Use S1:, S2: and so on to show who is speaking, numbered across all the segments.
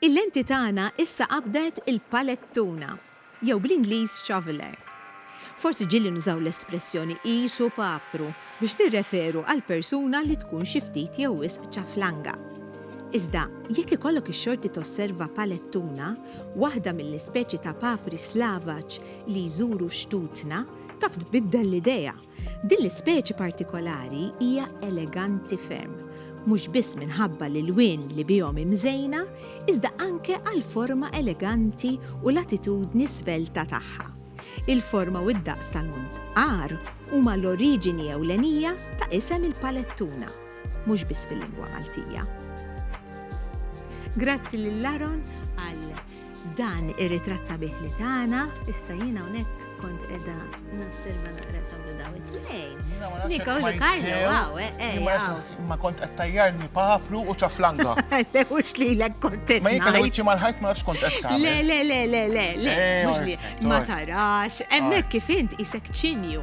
S1: Il-lenti tagħna issa qabdet il-palettuna, jew bl-Ingliż shoveler. Forsi ġieli nużaw l-espressjoni qisu papru biex nirreferu għal persuna li tkun xi ftit jew wisq ċaflanga. Iżda, jekk ikollok ix-xorti tosserva palettuna, waħda mill-ispeċi ta' papri Slavaġ li jżuru xtutna, Taf tbiddel l-idea! Din l-ispeċi partikolari hija eleganti ferm, mhux biss minħabba l-ilwien li bihom hi mżejna, iżda anke għall-forma eleganti u l-attitudni svelta tagħha. Il-forma u d-daqs tal-muntqar huma l-oriġini ewlenija ta' isem il-palettuna, mhux biss fil-lingwa Maltija. Grazzi lil Aaron għal Dan ir-ritratt sabiħ li tana, issa jien hawnhekk kont qiegħda nosserva naqra sablu daw it-tnejn. Niko li Karlo, waw, eh, eh, Ma kont qed
S2: tajjarni papru u ċaflanga. Le mhux li
S1: lek kont Ma jekk li wiċċi mal-ħajt ma
S2: nafx kont qed tagħmel. Le le le le le le. Eh,
S1: ma tarax, hemmhekk kif int isek ċinju.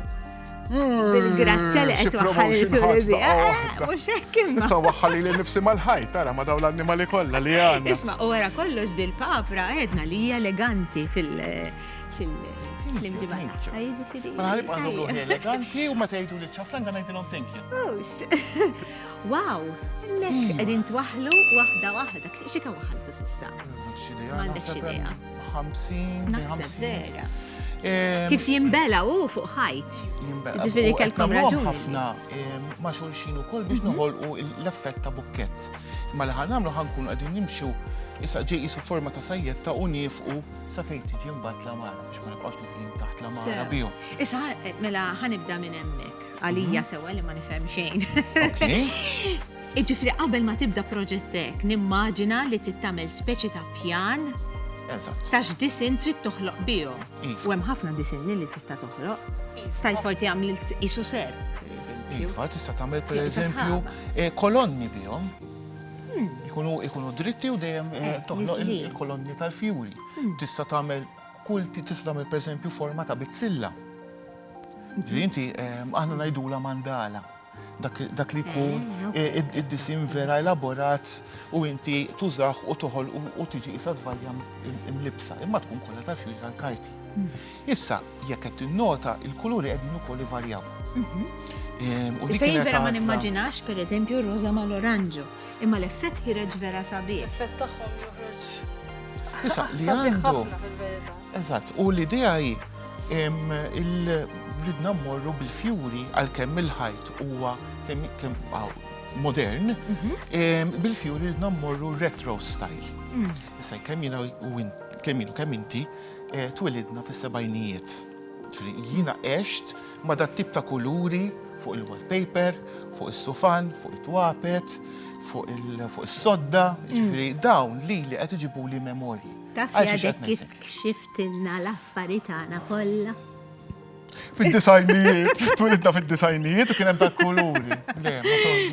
S1: Bil-grazzja li qed waħħal il-fjuri Mhux hekk imma. Issa waħħal li nifsi
S2: mal-ħajt, tara ma dawn l-annimali kollha li għandna. Isma' u wara kollox
S1: dil-papra għedna li hija eleganti fil- fil-imġibata. Ma ħalib
S2: għazum ruħi eleganti u ma tgħidu li ċafran għan għajdilom thank you. Wow,
S1: l-lek għedin twaħlu wahda wahda, xie kan waħaltu sissa? Mandek xie 50
S2: Naħseb
S1: vera. Kif jimbela u fuq ħajt. Jimbela. Ġifiri kelkom raġuni. ħafna
S2: ma xulxin ukoll biex mhm. noħolqu l-effett ta' bukkett. Ma li ħan nagħmlu ħankun qegħdin nimxu issa ġej isu forma ta' sajjet ta' unifqu sa fejn tiġi mbagħad la mara biex ma nibqgħux nisin taħt la mara bihom. Issa eh, mela
S1: ħanibda minn hemmhekk għalija mhm. sewa li ma nifhem xejn. Jiġifieri qabel ma tibda proġett hekk, nimmaġina li trid tagħmel speċi ta' pjan ta' x'disinn trid toħloq bihom. U hemm ħafna disinni li tista' toħloq. Stajt forti għamilt isu ser. Iva, tista' tagħmel
S2: pereżempju eh, kolonni bihom. Hmm. Ikunu dritti u dejjem eh, eh, toħloq il-kolonni tal-fjuri. Hmm. Tista' tagħmel kull tista' tagħmel pereżempju forma ta' bizzilla. Ġri inti aħna ngħidula mandala. dak li jkun eh, id-disin vera elaborat u inti tużax u toħol u tiġi isa dvarja mlibsa, imma tkun kollha tal-fjuġ tal-karti. Hmm. Issa, jekk qed tinnota, il-kuluri qegħdin ukoll ivarjaw.
S1: Mhm. Ehm, u dik Sej vera ma nimmaġinax per eżempju roża ma l-oranġu, imma l-effett ħireġ vera sabiħ. L-effett tagħhom
S3: joħroġ. Issa,
S2: li għandu. Eżatt, u l-idea hi il-ridna mmorru bil-fjuri għal-kemm il-ħajt huwa modern, mhm. bil-fjuri ridna mmorru retro style. Mm. Issa kemm jina u kemm jina kemm inti eh, twilidna fis-sebajnijiet. Jina għext ma dat tip ta' kuluri fuq il-wallpaper, fuq is-sufan, fuq it-twapet, fuq is-sodda, mhm. ġifri dawn li li qed iġibu li memorji. Taf jadek kif
S1: kxiftilna l-affari tagħna kollha? Fid-disajnijiet,
S2: twilidna fid-disajnijiet u kien hemm dak kuluri. Le,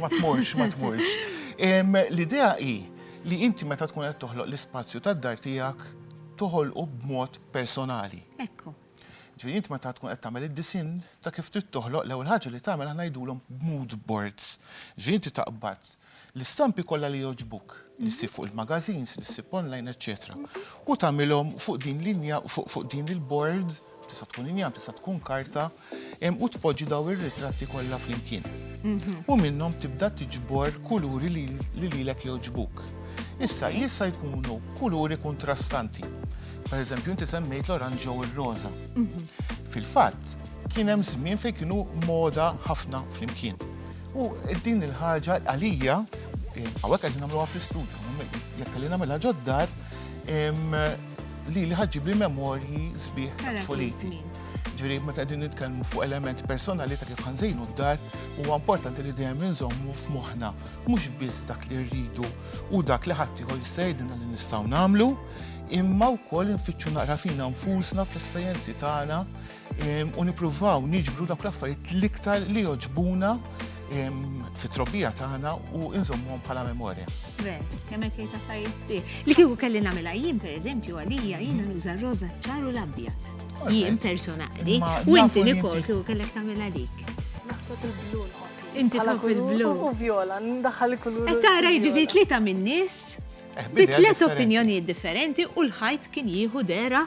S2: ma tmurx, ma tmurx. L-idea hi li inti meta tkun qed toħloq l-ispazju tad-dar tiegħek toħolqu b'mod personali. Ekku.
S1: Ġifieri int meta
S2: tkun qed tagħmel id-disin ta' kif trid toħloq l-ewwel ħaġa li tagħmel aħna jgħidulhom mood boards. Ġifieri inti taqbad L-istampi kollha li jogħġbuk, li ssib fuq il-magazines, li ssib online, eċċetera. U tagħmilhom fuq din linja, fuq din il-bord, tista' tkun injam, tista' tkun karta, u tpoġġi daw ir-ritratti kollha flimkien. Mhm. U minnhom tibda tiġbor kuluri li lilek jogħġbuk. Issa jista' jkunu kuluri kontrastanti. Per eżempju, inti semmejt l-oranġ u r-roża. Mhm. Fil-fatt, kien hemm żmien fejn kienu moda ħafna flimkien. U din il-ħaġa għalija, għawek għedin għamluwa fl-istudju, jekk li namela ġoddar, li li ħagġib li memorji sbieħ foliti. Ġviri, ma ta' din nitkellmu fuq element personali ta' kif ħanżejnu d-dar, u importanti li dejjem nżommu f'moħna, mux biss dak li rridu u dak li ħattijħor jistajdina li nistaw namlu, imma u koll nfittxu naqra fina nfusna fl-esperienzi tagħna u nippruvaw niġbru dak l-affarijiet l-iktar li joġbuna fit-trobbija tagħna u inżommuhom bħala memorja. Ve, kemm qed
S1: jgħid affarijiet sbieħ. Li kieku kelli nagħmilha jien pereżempju għalija jiena nuża r-roża ċar u l-abjad. Jien personali. U inti nikol kieku kellek tagħmilha dik. Naħseb il-blu
S3: Inti tħobb
S1: il-blu.
S3: U
S1: viola,
S3: ndaħħal
S1: kulur. Qed
S3: tara jiġifieri
S1: tlieta min-nies eh, bi tliet opinjonijiet differenti u l-ħajt kien jieħu dera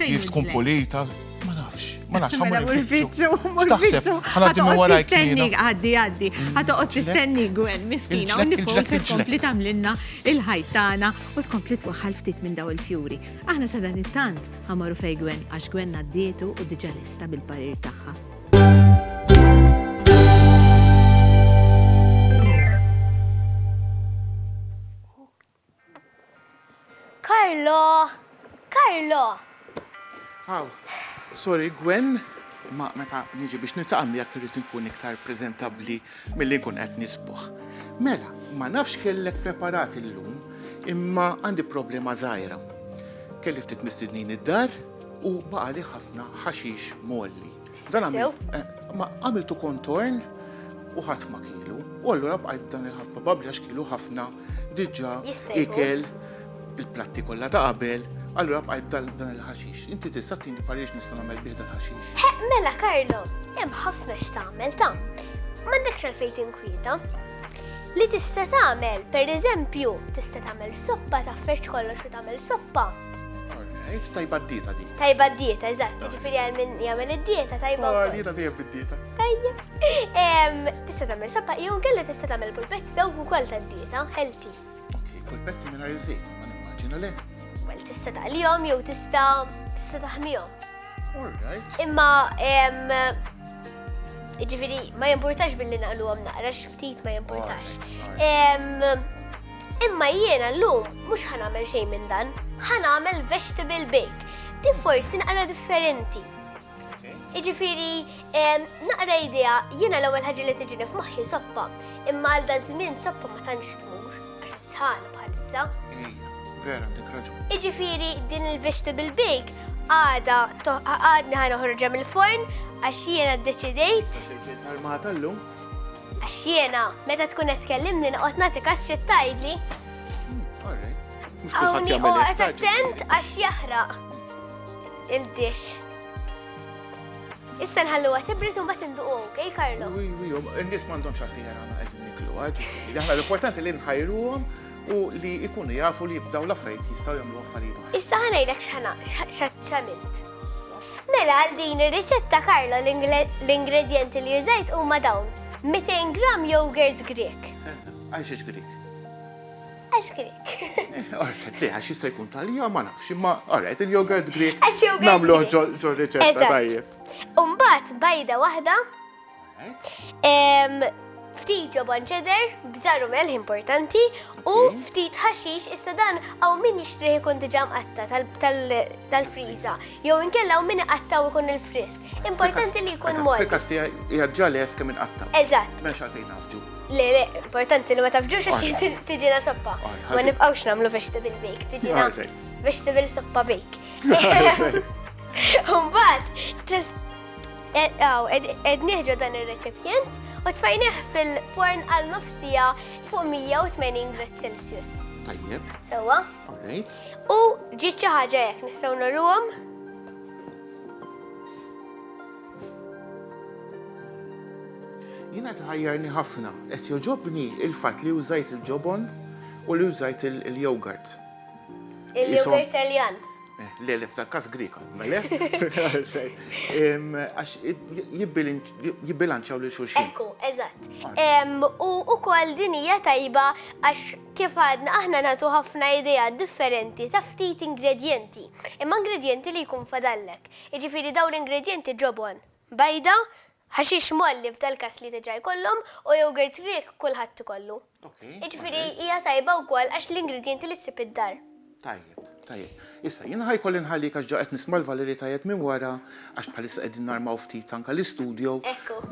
S2: Kif tkun
S1: pulita,
S2: ma
S1: nafx,
S2: ma nafx. Mela uffiċċju,
S1: uffiċċju. Ħaddim wara
S2: jkistenni, għaddi, għaddi. Ħatoqgħod
S1: tistenni gwen miskina u nifhom se tkompli tagħmlilna il-ħajt tagħna u tkompli twaħħal ftit minn daw il-fjuri. Aħna sa dan it-tant ħamaru fej gwen għax gwen għaddietu u diġà lesta bil-parir tagħha.
S4: Carlo! Carlo!
S2: Aw, sorry Gwen, imma meta niġi biex niltaqa' miegħek irrid inkun iktar preżentabbli milli nkun qed nisbuħ. Mela, ma nafx x'kellek preparat illum, imma għandi problema żgħira. Kelli ftit mistednin id-dar u baqagħli ħafna ħaxix mgħolli. Dan sew. Ma għamiltu kontorn u ħadd ma kielu. U allura bqajt dan il-ħaf probabbli għax kielu ħafna diġà ikel il-platti kollha ta' qabel, allura bqajt dan il-ħaxix. Inti tista' tini pariex nista' nagħmel bih dan ħaxix. Mela Karlo,
S4: hemm ħafna x'tagħmel ta' m'għandekx għalfejn tinkwieta. Li tista' tagħmel, pereżempju, tista' tagħmel soppa, tafferġ kollox u tagħmel soppa. Għajt
S2: tajba d-dieta di. Tajba d-dieta, eżatt,
S4: ġifiri għal minn jgħamil d-dieta tajba. Għal oh, dieta tajba d-dieta.
S2: Tajja.
S4: Tista tamil sabba, jgħun kella tista tamil pulpetti daw u kol ta' d-dieta, healthy. Ok, pulpetti
S2: minna rizzejt, ma nimmaġina le. Well, tista taqlijom
S4: jew tista tista taħmijom. Alright.
S2: Imma,
S4: ġifiri, ma jimportax billi naqlu għom naqrax ftit ma jimportax. Imma jiena llum mhux ħa nagħmel xejn minn dan, ħa nagħmel vegetable bake. Di forsi naqra differenti. Iġifiri, naqra idea, jiena l-ewwel ħaġa li tiġini f'moħħi soppa, imma għal da żmien soppa ma tantx tmur għax sħan bħalissa. Vera,
S2: dik raġun. Iġifiri, din
S4: il-vegetable bake għada għadni ħana ħorġa mill-forn għax jiena d-deċidejt. Armata l-lum?
S2: Għax
S4: jiena, meta tkun qed tkellimni noqgħod nagħti każ xi tgħidli. Hawnni oqgħod attent għax jaħraq il-dix. Issa nħallu għat ibrit un bat induqu, ok, Karlo? Wi, wi, n-nis mandom
S2: xarfin għana għed niklu għagġi. Għahna l-importanti li nħajru għom u li jkunu jafu li jibdaw l-affarijiet jistgħu jagħmlu affarijiet oħra. Issa ħanajlek
S4: x'għamilt. Mela għal din ir-riċetta Karlo l-ingredjenti li użajt huma dawn 200 gram yogurt Grek. Senna, għaxiex
S2: Grek. Għax
S4: Grek. Orret, li
S2: għax jista' jkun tal-ja ma nafx, imma orret il-yogurt Grek. Għax yogurt. Namlu
S4: ġor
S2: riċetta
S4: tajjeb.
S2: Umbat
S4: bajda waħda Ftit ġobon ċeder, bżaru melħ importanti, u ftit ħaxix issa dan għaw min jixtriħ ikun diġam għatta tal-friza, jew inkella għaw min għattaw ikun il-frisk. Importanti li jkun mor. Fil-kastija jgħadġali
S2: jeska minn għatta. Eżatt. Mex
S4: għalfejn
S2: għafġu. Le, le, importanti
S4: li ma tafġux għax tiġina soppa. Ma nibqawx namlu vegetable bake, tiġina vegetable soppa bake. Umbat, Aw, ed nieħġu dan ir-reċipjent u tfajnieh fil-forn għal nofsija fuq 180 grad Celsius. Tajjeb. Sewa. Alright.
S2: U ġiet
S4: xi ħaġa jekk nistgħu nagħruhom.
S2: Jiena tħajjarni ħafna, qed joġobni il-fatt li użajt il-ġobon u li użajt il-yogurt.
S4: Il-yogurt Italjan. Le, le, f'dal
S2: każ Griega. Le? Għax jibbilanċaw lil xulxin. Ekku, eżatt.
S4: U ukoll din hija tajba għax kif għadna aħna nagħtu ħafna idea differenti ta' ftit ingredjenti. Imma ingredjenti li jkun fadallek. Jiġifieri dawn l-ingredjenti ġobon. Bajda, Ħaxix mgħalli f'dal-każ li diġà jkollhom u jogurt riek kulħadd ikollu. Jiġifieri hija tajba wkoll għax l-ingredjenti li ssib id-dar. Tajjeb,
S2: tajjeb. Issa, jien ħa jkolli nħallik għax ġa qed nisma' l-valeritajat minn wara għax bħalissa qegħdin narmaw ftit anke l-istudio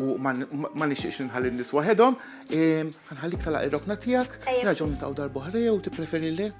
S2: u ma nixtieqx li nħalli n-nies waħedhom. Ħa nħallik tagħlaq ir-rokna tiegħek, nerġgħu niltaqgħu darb'oħra jew tippreferi le?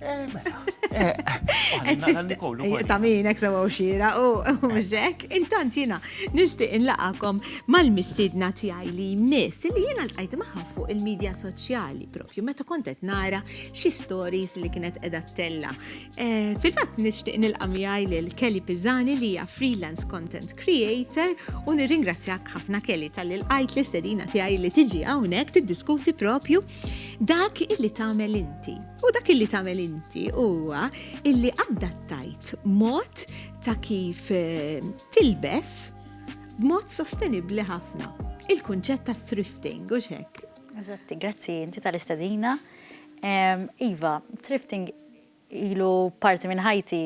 S1: Art.
S2: Eh, mela. Eh, eh, ta' min ek sewa
S1: xira u mxek, intant jina nishti inlaqakom mal-mistidna tijaj li jmiss li jina l-għajt maħħa fuq il-medja soċjali propju meta kontet nara xi stories li kienet edha tella. Fil-fat nishti nilqa miħaj l-Kelly Pizzani li hija freelance content creator u nirringrazzjak ħafna Kelly tal-għajt l-istedina tijaj li tiġi għawnek tiddiskuti propju dak illi tamel inti. U dak illi tagħmel inti huwa illi adattajt mod ta' kif eh, tilbes b'mod sostenibbli ħafna. Il-kunċett ta' thrifting u xek. Eżatti, grazzi
S5: inti tal-istadina. Iva, thrifting ilu parti minn ħajti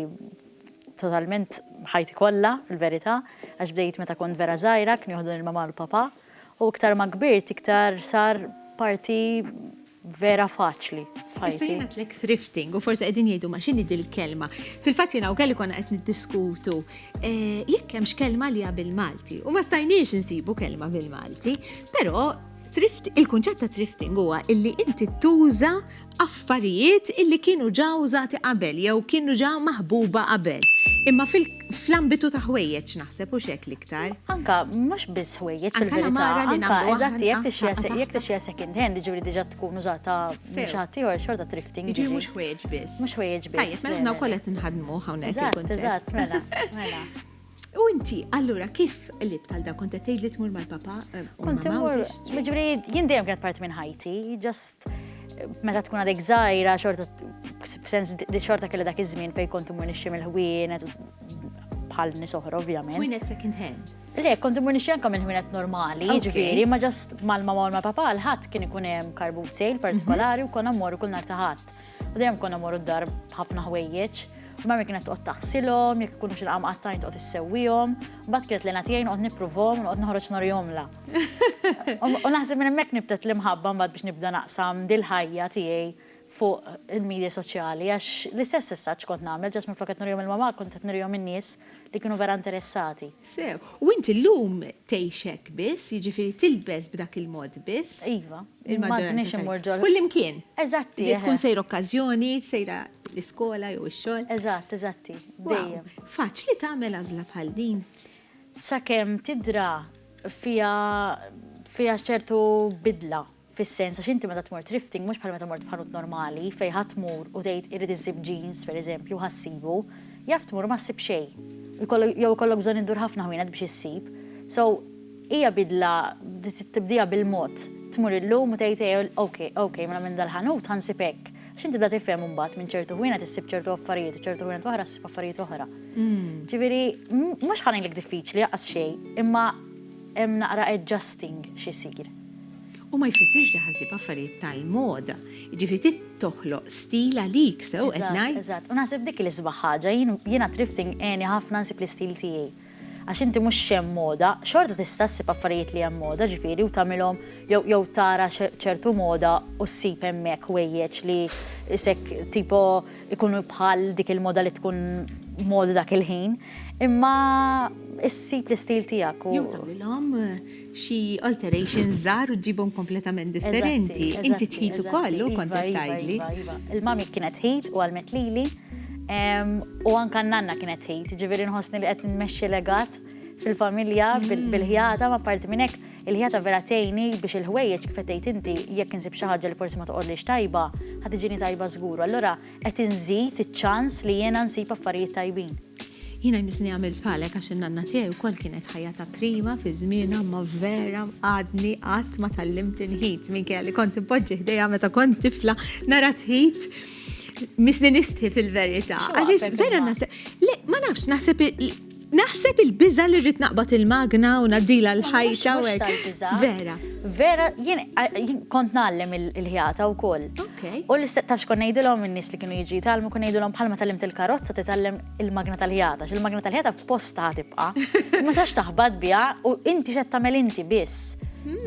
S5: totalment ħajti kollha fil-verità, għax bdejt meta kont vera żgħira, kien joħdu il-mama l-papa. U iktar ma kbirt iktar sar parti vera faċli f'ħajti. Issa jien għatlek
S1: thrifting u forsi qegħdin jgħidu ma x'inhi dil-kelma. Fil-fatt jien hawn kelli konna qed niddiskutu eh, jekk hemmx kelma li bil-Malti u ma stajniex insibu kelma bil-Malti, però thrift, il-kunċett ta' thrifting huwa illi inti tuża affarijiet illi kienu ġa użati qabel jew kienu ġa maħbuba qabel. Imma fl-ambitu ta' ħwejjeġ naħseb hux hekk l-iktar. Anka mhux
S5: biss ħwejjeġ fil-verità, anka eżatt jekk tixtri second hand, jiġifieri diġà tkun użata minn xi ħadd ieħor xorta thrifting. Jiġifieri mhux ħwejjeġ biss.
S1: Mhux ħwejjeġ biss. Tajjeb, mela
S5: aħna wkoll qed
S1: inħaddmuh hawnhekk. Eżatt, eżatt, mela, mela.
S5: U inti,
S1: allura, kif qlibt għal da? Kont qed tgħid li tmur mal-papa? Eh, kont imur.
S5: Ġifieri jien dejjem kienet parti minn ħajti, just eh, meta tkun għadek żgħira xorta sens xorta kelli dak iż-żmien fejn kont imur nixxi mill-ħwienet bħal nies oħra ovvjament. Ħwienet second hand.
S1: Le, kont imur nixxi
S5: anke mill-ħwienet normali, ġifieri, ma ġast mal-mama u mal-papa l-ħadd kien ikun hemm karbut sejl partikolari u konna mmorru kull nhar ta' ħadd. U dejjem konna morru d-dar b'ħafna ħwejjeġ. U mammi kienet toqgħod taħsilhom, jekk ikunu xi laqam qattajn toqgħod issewwihom. Mbagħad kienet lejna tiegħi noqgħod nippruvhom, noqgħod noħroġ norihomla. U naħseb minn hemmhekk nibtet l-imħabba mbagħad biex nibda naqsam dil-ħajja tiegħi fuq il-midja soċjali għax l-istess essaġġ kont nagħmel, ġast minflok qed nurihom il-mamà kont qed nurihom in-nies. li kienu vera interessati. Sew. U int
S1: illum tgħix hekk biss, jiġifieri tilbes b'dak il-mod biss? Iva. Il-maġġoranza
S5: tal-ħin. Kullimkien. Eżatt.
S1: Jiġifieri tkun
S5: sejr okkażjoni,
S1: sejra l-iskola jew ix-xogħol. Eżatt, eżatt.
S5: Dejjem. Wow. Faċli tagħmel
S1: għażla bħal din? Sakemm
S5: tidra fiha fiha ċertu bidla. Fis-sens għax inti meta tmur thrifting mhux bħal meta mort f'ħanut normali fejn ħa tmur u tgħid irrid insib jeans, pereżempju, ħa ssibu. Jaf tmur u ma ssib xejn. U jkollok, jew ikollok bżonn iddur ħafna ħwienet biex issib. So, hija bidla tibdieha bil-mod. Tmur illum u tgħid ejja, ok, ok, mela minn dal-ħanut ħa nsib hekk. Għax inti tibda tifhem imbagħad minn ċertu ħwienet issib ċertu affarijiet u ċertu ħwienet oħra ssib affarijiet oħra. Ġifieri, mhux ħa ngħidlek diffiċli, lanqas xejn, imma hemm naqra adjusting x'isir. U ma
S1: jfissirx li ħa ssib affarijiet tal-moda. Jiġifieri trid toħloq stil għalik, sew qed ngħid? Eżatt, eżatt. U naħseb dik hi l-isbaħ
S5: ħaġa. Jien, jiena thrifting għeni ħafna nsib l-istil tiegħi. Għax inti mhux x'hemm moda, xorta tista' ssib affarijiet li hemm moda, ġifieri, u tagħmilhom jew jew tara ċertu moda u ssib hemmhekk ħwejjeġ li isek tipo jkunu bħal dik il-moda li tkun moda dak il-ħin. Imma issib l-istil tiegħek u. Jew tagħmilhom
S1: xi alterations żgħar u ġġibhom kompletament differenti. Inti tħit ukoll, hu kont qed tgħidli. Iva, iva, iva. Il-mummy kienet
S5: tħit u għallmet lili. U anke n-nanna kienet tħit, jiġifieri nħossni li qed nmexxi legat fil-familja mm. bil-ħjata ma parti minn hekk il-ħjata vera tgħinni biex il-ħwejjeġ kif qed inti jekk insib xi ħaġa li forsi ma toqgħodlix tajba, ħad iġini tajba żgur. Allura Qed inżid iċ-ċans li jiena nsib affarijiet tajbin. Jiena jmissni
S1: għamilt bħalek għax in-nanna tiegħi wkoll kienet ħajja ta' prima fi żmienha imma vera għadni qatt ma tgħallimt inħit minkejja li kont inpoġġi ħdejha meta kont tifla nara tħit misni nistħi fil-verità. Għaliex vera naħseb, le ma nafx naħseb Naħseb il-biża' li rrid naqbad il-magna u ngħaddilha l-ħajta u hekk. Vera. Vera, jien
S5: kont ngħallem il-ħjata wkoll. U li tafx kont ngħidilhom in-nies li kienu jiġi jitgħallmu kont ngħidilhom bħalma tallimt il-karozza titgħallem il-magna tal-ħjata, x'il-magna tal-ħjata f'postha tibqa'. Ma sax taħbad biha u inti x'qed tagħmel inti biss.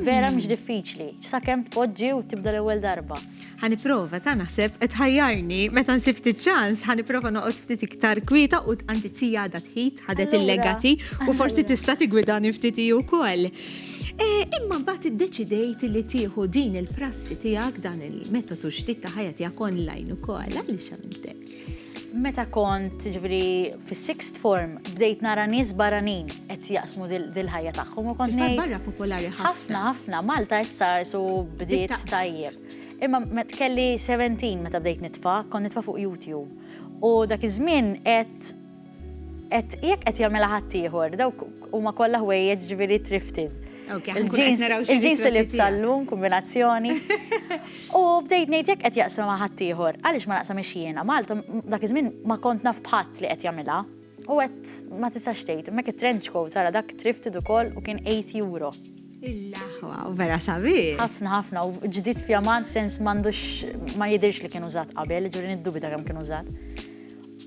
S5: Vera mhix diffiċli, sakemm tpoġġi u tibda l-ewwel darba. Ħa nipprova, ta'
S1: naħseb qed tħajjarni. Meta nsib ftit ċans, ħa nipprova noqgħod ftit iktar kwieta u għandi tzija għadha tħid, ħadet il-legati u forsi tista' tigwidani ftit hi wkoll. E, imma mbagħad iddeċidejt li tieħu din il-prassi tiegħek dan il-metodu ġdid ta' ħajja tiegħek online ukoll għaliex għamiltek. Meta
S5: kont ġifieri fis-sixth form bdejt nara nies barranin qed jaqsmu dil-ħajja tagħhom u kont ngħid. barra popolari ħafna.
S1: Ħafna ħafna
S5: Malta issa su bdiet tajjeb. Imma met kelli 17 meta bdejt nitfa, kont nitfa fuq YouTube. U dak iż-żmien qed Qed jekk qed jagħmilha ħaddieħor, dawk huma kollha ħwejjeġ ġifieri thrifted. Il-ġins li libsa llum, kombinazzjoni. U bdejt ngħid jekk qed jaqsam ma' ħaddieħor, għaliex ma naqsam ix-xiena. Malta dak iż-żmien ma kont naf bħadd li qed jagħmilha. U qed ma tistax tgħid, mek it-trench coat tara dak thrifted ukoll u kien 8 euro. Il-laħwa,
S1: u vera sabiħ. Ħafna, ħafna, u
S5: ġdid fjamant f'sens m'għandux ma jidirx li kien użat qabel, ġuri niddubita kemm kien użat.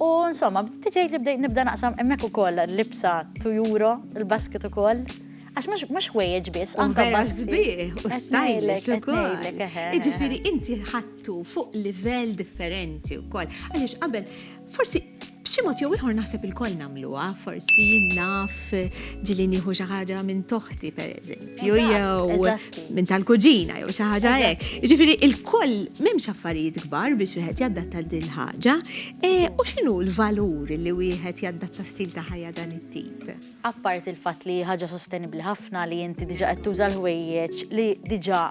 S5: U insomma, bdiet tiġi li bdejt nibda naqsam hemmhekk ukoll libsa tu euro, il-basket ukoll. Għax mhux mhux ħwejjeġ biss, anke vera basket. sbieħ u Qed
S1: stylish ngħidlek, qed ukoll. ngħidlek, eħe, eħe. Jiġifieri inti ħadtu fuq livell differenti wkoll. Għaliex qabel forsi b'xi mod jew ieħor naħseb ilkoll nagħmluha, forsi jien naf ġieli nieħu xi ħaġa minn toħti pereżempju. Fju jew minn tal-kuġina jew xi ħaġa hekk. Jiġifieri il-koll m'hemmx affarijiet kbar biex wieħed jaddatta din ħaġa. E, u x'inhu l-valur li wieħed jaddatta stil ta' ħajja dan it-tip? Appart il-fatt
S5: li ħaġa sostenibbli ħafna li inti diġà qed tuża l-ħwejjeġ li diġà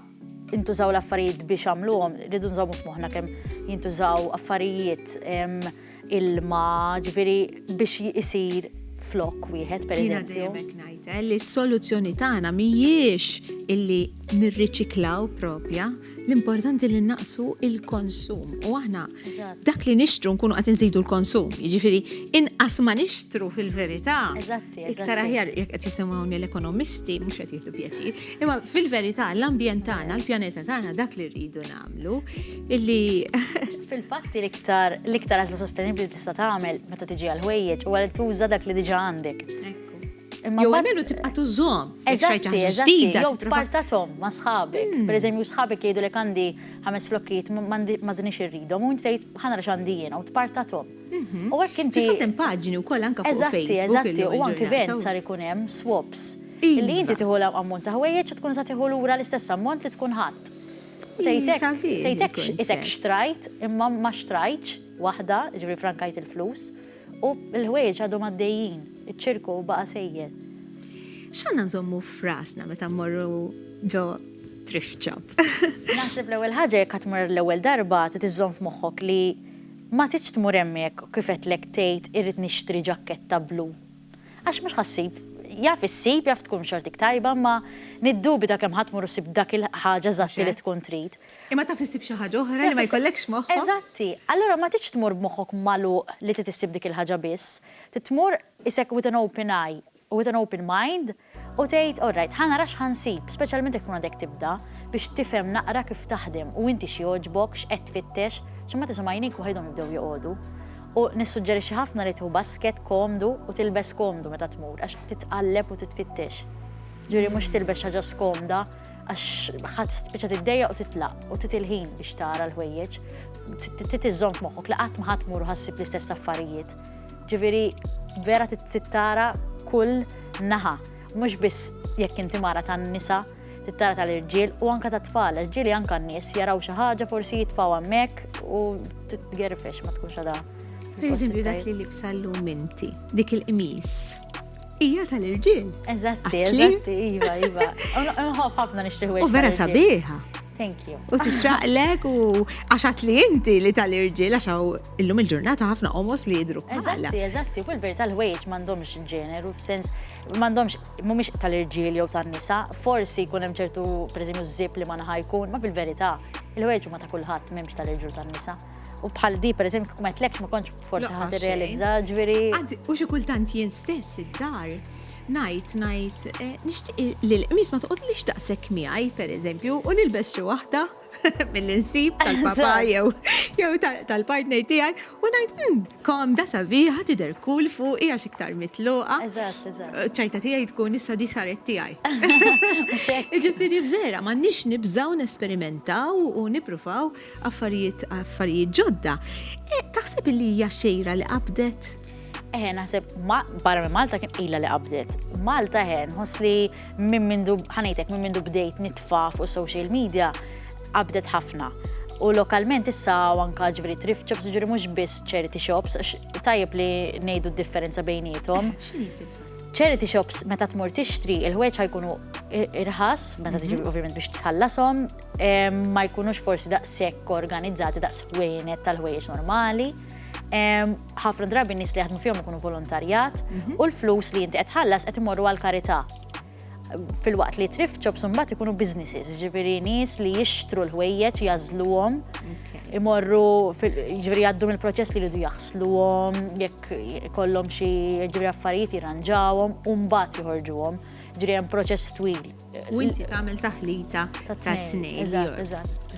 S5: intużaw l-affarijiet biex għamluhom, rridu nżommu f'moħħna kemm jintużaw affarijiet ilma, ġifieri biex isir flok wieħed per eżempju. Jiena dejjem ngħid eh, li
S1: s-soluzzjoni tagħna mhijiex illi nirriċiklaw propja, l-importanti li naqsu il-konsum u aħna dak li nixtru nkunu qed inżidu l-konsum. Jiġifieri inqas ma nixtru fil-verità. Iktar aħjar jekk qed jisimgħuni l-ekonomisti mhux qed jieħdu pjaċir. Imma fil-verità l-ambjent tagħna, l-pjaneta tagħna dak li rridu nagħmlu illi Fil-fatt
S5: l-iktar l-iktar għażla sostenibbli tista' tagħmel meta tiġi għal ħwejjeġ huwa li tuża dak li diġà għandek. Jew
S1: għamilu tibqa tużom. Eżatti, eżatti,
S5: jew tpartatom ma sħabek. Hmm. Per eżempju, sħabek jgħidu li għandi ħames flokkiet ma dinix irridom, u tgħid ħana rax għandi jiena u tpartatom. Mhm. U għek inti. Fil-fatt hemm paġni wkoll
S1: anke fuq Facebook. Eżatti, eżatti, u anke vent
S5: sar ikun hemm swaps. Iva. Li inti tieħu l-ammont ta' ħwejjeġ u tkun sa tieħu lura l-istess ammont li tkun ħadd. Tejtek xtrajt imma ma xtrajtx waħda, ġifri frankajt il-flus. U l-ħwejjeġ għadhom għaddejjin, iċ-ċirku baqa' sejjer. X'għandna
S1: nżommu f'rasna meta mmorru ġo thrift shop? Naħseb l-ewwel
S5: ħaġa jekk qed tmur l-ewwel darba trid iżżomm f'moħħok li ma tridx tmur hemm jekk kif għedtlek tgħid irrid nixtri ġakketta blu. Għax mhux ħa ssib, jaf issib, jaf tkun xortik tajba, imma niddubita kemm ħa tmur u ssib dak il-ħaġa eżatti li tkun trid. Imma taf issib xi
S1: ħaġa oħra li ma jkollekx moħħok. Eżatti. Allura ma
S5: tridx tmur b'moħħok magħluq li trid issib dik il-ħaġa biss. Trid tmur isek with an open eye u with an open mind u tgħid all right, ħa nara x'ħa nsib, speċjalment jekk tkun għadek tibda, biex tifhem naqra kif taħdem u inti x'jogħġbok, x'qed tfittex, xi ma tisimha' għajnejk waħidhom jibdew joqogħdu. U nissuġġerixxi ħafna li tieħu basket komdu u tilbes komdu meta tmur għax titqalleb u titfittex. Ġifieri mhux tilbes xi ħaġa skomda għax ħadd spiċċa tiddejjaq u titlaq u tit il-ħin biex tara l-ħwejjeġ, tit iżżomm f'moħħok li qatt ma ħadd mur ħassib l-istess affarijiet. Ġifieri vera tittara kull naħa, mhux biss jekk inti mara tan-nisa, tittara tal-irġiel u anka tat-tfal, irġieli anka n-nies jaraw xi ħaġa forsi jitfaw hemmhekk u titgerfex ma tkunx għadha. Per eżempju dak
S1: li libsa l-lum inti, dik il-qmis. Ija tal-irġiel. Eżatti, eżatti,
S5: iva, iva. Nħof ħafna nixtriħu. U vera sabiħa.
S1: Thank you. U
S5: tixraqlek
S1: u għaxat li inti li tal-irġiel għaxaw illum il-ġurnata ħafna omos li jidru. Eżatti, eżatti, fil
S5: verita l-ħwejġ mandomx ġeneru, f'sens mandomx mumiex tal-irġiel jew tan-nisa, forsi jkun hemm ċertu preżimju zip li ma naħa jkun, ma fil-verità il-ħwejġ ma ta' kulħadd m'hemmx tal-irġiel tan-nisa. U bħal di, per eżempju, kum għetlekx ma konċ forsi ħat realizza, ġviri.
S1: Għanzi,
S5: u
S1: xikultant jien
S5: stess id-dar, najt,
S1: najt, eh, nishtiq li l-qmis ma toqgħod li xtaqsek miegħi, per eżempju, u nilbes xi waħda mill-insib tal-papa jew jew tal-partner tiegħi u ngħid hmm, kom da sabiħa tidher kull fuq hija iktar mitluqa.
S5: ċajta tiegħi tkun
S1: issa di saret tiegħi. Ġifieri vera m'għandniex nibżgħu nesperimentaw u nippruvaw Affarijiet, affarijiet ġodda. E, taħseb li hija xejra li qabdet? Eħe, naħseb,
S5: ma, barra minn Malta kien ila li qabdet. Malta ħen, ħos li minn mindu, ħanajtek, minn mindu bdejt nitfa fuq social media, qabdet ħafna. U lokalment issa anka ġveri thrift shops ġveri mux biss charity shops, tajjeb li nejdu differenza bejnietom. Charity shops meta tmur tixtri il-ħweġ ħajkunu irħas, meta tiġi mhm. ovvjament biex tħallasom, ma jkunux forsi daqshekk organizzati daqs ħwejnet tal-ħwejjeġ normali. Ħafna drabi nies li jaħdmu fihom ikunu volontarjat mhm. u l-flus li inti qed tħallas qed imorru għal karità fil-waqt li thrift shops mbagħad ikunu businesses, ġifieri nies li jixtru l-ħwejjeġ jażluhom imorru ġifieri jgħaddu mill-proċess li jridu jaħsluhom, jekk ikollhom xi ġifieri affarijiet jirranġawhom u mbagħad joħorġuhom. Ġifieri hemm proċess twil. U inti tagħmel
S1: taħlita ta' tnejn.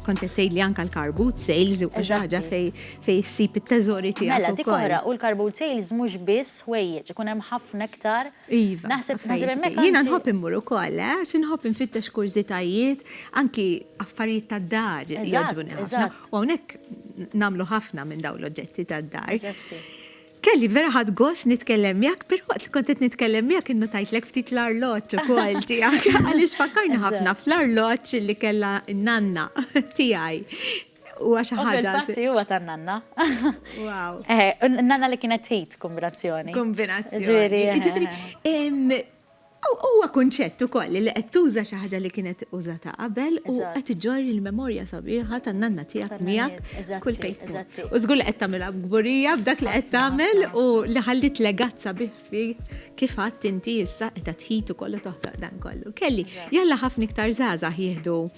S1: Kont
S5: qed tgħidli anke
S1: l-carbut sales u ħaġa fejn issib it-teżori tiegħek. Mela dik oħra u l-carbut
S5: sales mhux biss ħwejjeġ, ikun hemm ħafna iktar. Iva. Naħseb
S1: hemmhekk.
S5: Jiena nħobb immur
S1: ukoll, eh, għax inħobb infittex kurżitajiet, anki affarijiet tad-dar jogħġbuni ħafna. U hawnhekk nagħmlu ħafna minn dawn l-oġġetti tad-dar. Kelly, vera ħadt gost nitkellem miegħek, però waqt li kont qed nitkellem miegħek innutajtlek ftit l-arloġġ ukoll tiegħek għaliex fakkarni ħafna fl-arloġġ li kellha n-nanna tiegħi. Huwa xi ħaġa. Fil-fatti huwa tan-nanna.
S5: Wow.
S1: Eh, nanna
S5: li kienet ħid kombinazzjoni. Kombinazzjoni. Ġifieri.
S1: Huwa kunċett ukoll li qed tuża xi ħaġa li kienet użata qabel u qed iġorr il-memorja sabiħa tan-nanna tiegħek miegħek kull fejn tkun. U żgur li qed tagħmilha b'kburija b'dak li qed tagħmel u li ħalliet legat sabiħ fik kif għedt inti issa qiegħda tħit ukoll u toħloq dan kollu. Kelly, jalla ħafna iktar żgħażagħ jieħdu